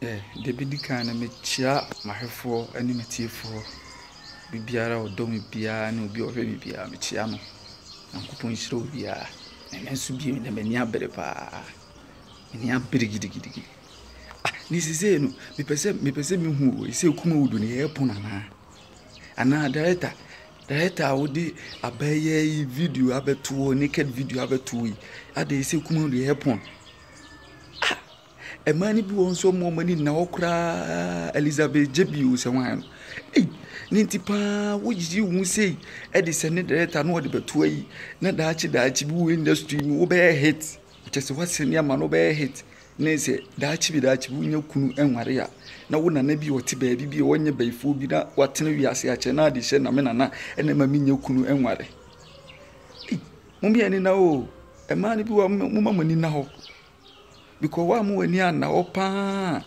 Deɛ ɛbɛdi kan no, mekyea m'ahwɛfoɔ ne m'atiefoɔ. Obiara a ɔdɔ me biara ne obi a ɔhwɛ me biara, mekyea mo. Nyankopɔn nhyira obiara. Na ɛno nso bio na m'ani abere paa. M'ani abere gidigidigidi. Ah, ne sisei no, mepɛ sɛ mepɛ sɛ mehu o, ɛsɛ Kumawudu no yɛyɛ pono anaa? Anaa director, director a wode abɛyɛ yi video abɛtoɔ, naked video abɛtoɔ yi, adɛn ɛsɛ Kumawudu yɛyɛ pono? Mmaa no bi wɔ hɔ nso wɔn a wɔn ani nna hɔ koraa, Elizabeth Jebio sɛ hwan no, ei, ne nti pa ara woyiyi wo ho sei de sɛ ne director na ɔde bɛto ayi, na daakye daakye bi wɔ industry mu wobɛyɛ hit, kyerɛ sɛ woasɛne ama no wobɛyɛ hit ne sɛ daakye bi daakye bi wonya kunu nware a, na wo nana bi a ɔte baabi bi a ɔnyɛ bayifoɔ bi na watene wiase akyɛ na ade hyɛ na me nana na ɛma menya kunu nware. Ei, mo mmienu na o, mmaa no bi wɔ hɔ moma mo ani nna hɔ. Because wo a mo ani anna hɔ paa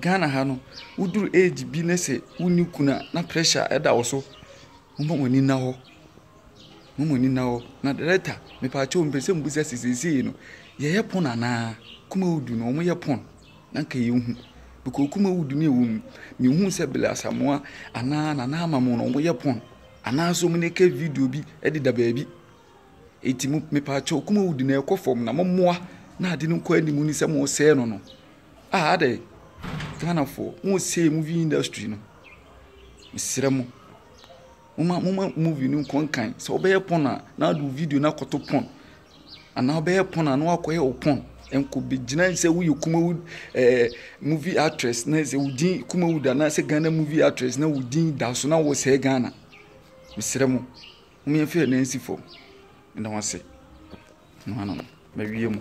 Ghana ha no, wo duru age bi na sɛ wo nni kunu a na pressure ɛda wo so. Mo ma mo ani nna hɔ. Mo ma mo ani nna hɔ. Na director, me paa kyɛw mpɛ sɛ mo bisa sɛ seesei no, yɛ yɛ pon anaa? Kumawudu no, ɔmo yɛ pon? Na nka yɛ hu. Because Kumawudu ne ɛwɔ mu, me hu sɛ Billy Asamoah anaa Nana Ama mo no ɔmo yɛ pon. Anaa sɛ ɔmo na ɛka video bi ɛde da baabi. Enti mo, mepaakyɛw, Kumawudi na ɛrekɔ fam na mommoa na ade no nkɔ anim ne sɛ moresɛe no no. Ah adɛn? Ghanafoɔ, moresɛe movie industry no. Mesrɛ mo, momma, momma movie no nkɔ nkan. Sɛ wobɛyɛ porn a, na wode wo video no akɔto porn. Anaa wobɛyɛ porn a, na woakɔyɛ wo porn. Ɛnkɔbɛgyina sɛ woyɛ Kumawud ɛɛ eh, movie actress na sɛ wo din Kumawud anaasɛ Ghana movie actress na wo din da so na woresɛe Ghana. Mesrɛ mo. Hom mfa hɛn nan nsi famu. Meda mo ase. Ɔno ano no, mawie mu.